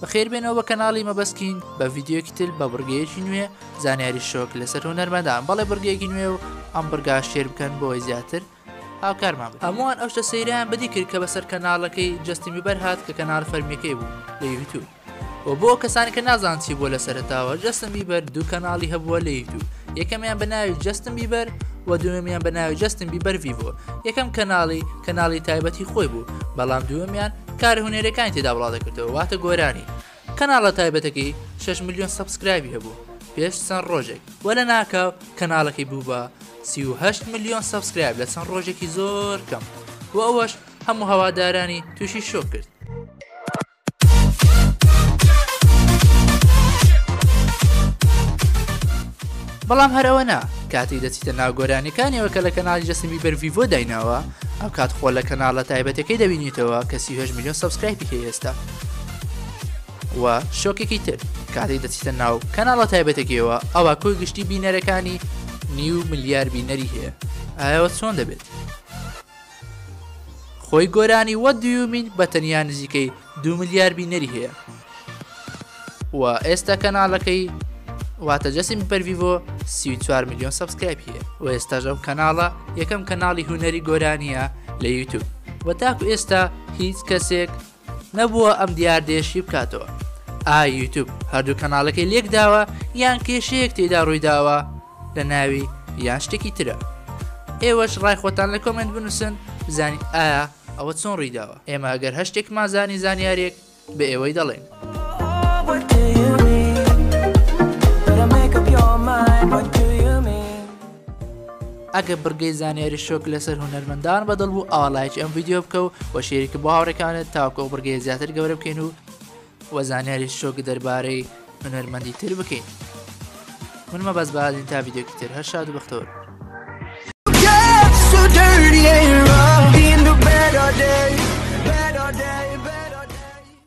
بەخێربێنەوە بە کەناڵی مەبەست کینگ بە ڤیددیوکی تل بە بڕگەیەکی نوێ زانیاری شۆک لەسەر هونەرمەدان بەڵێ بڕگەیەکی نوێ و ئەم بڕگا شێر بکەن بۆی زیاتر هاوکارمان هەمووان ئەو شتە سەیران بەدی کرد کە بەسەر کەناڵەکەی جستی میبەر هات کە کەنار فەرمیەکەی بوو لە یوتوب و بۆ کەسانی کە نازان چی بووە لە سەرتاوە جستم بیبەر دوو کەناڵی هەبووە لە یوتوب یەکەمیان بە ناوی جستم بیبەر و دوێمیان بە ناوی جستم بیبەر ڤیڤۆ یەکەم کەناڵی کەناڵی تایبەتی خۆی بوو بەڵام دوێمیان کارە هونەرەکانی تێدا بڵاودەکردەوە واتە گۆرانی کەناڵە تایبەتەکەی 6 ملیۆن سەبسکرایبی هەبوو پێش چەند ڕۆژێک وە لە ناکاو کەناڵەکەی بوو بە 38 ملیۆن سەبسکرایب لە چەند ڕۆژێکی زۆر کەم و ئەوەش هەموو هەوادارانی تووشی شۆ کرد بەڵام هەرەوەنا کاتی دەچیتە ناوگۆرانەکانیەوە کە لە کەناڵی جەسمی بەرڤیڤۆ دایناوە ئەوکات خۆ لە کەناڵە تایبەتەکەی دەبینیتەوە کە سی هەشت میلیۆن سەبسکرایبی هەیە ئێستا و شۆکێکی تر کاتێک دەچیتە ناو کەناڵە تایبەتەکەیەوە ئەوە کۆی گشتی بینەرەکانی نیو ملیار بینەری هەیە ئایەوە چۆن دەبێت خۆی گۆرانی وە دیومین بە تەنیا نزیکەی دوو ملیار بینەری هەیە و ئێستا کەناڵەکەی واتە جەسیم بەرڤڤۆ سی میلیۆن سبسکرایب هەیە و ئێستاژ ئەم کەناڵە یەکەم کەناڵی هوەری گۆرانیە لە یوتوب و تاکو ئێستا هیچ کەسێک نەبووە ئەم دیاردێشی بکاتەوە ئا یوتوب هەردوو کەناڵەکەی لێک داوە یان کێشەیەک تێدا ڕوویداوە لە ناوی یان شتێکی ترە ئێوەش ڕای خۆتان لە کۆمنت بنووسن بزانین ئایا ئەوە چۆن ڕیداوە ئێمە ئەگەر هەشتێکمان زانی زانیارێک بە ئێوەی دەڵێن. ئەگە بڕگەی زانیاری شۆک لەسەر هونەرمەندان بەدڵ بوو ئاڵایکی ئەم یددیو بکە و وەشێریکە بۆ هاوڕێکانت تاکۆ بڕگەی زیاتر گەورە بکەین و وە زانیاری شۆک دەربارەی هونەرمەندی تر بکەین من مەبەست بەازین تا ڤیددیوکی تر هەر شاد و بەختەوەر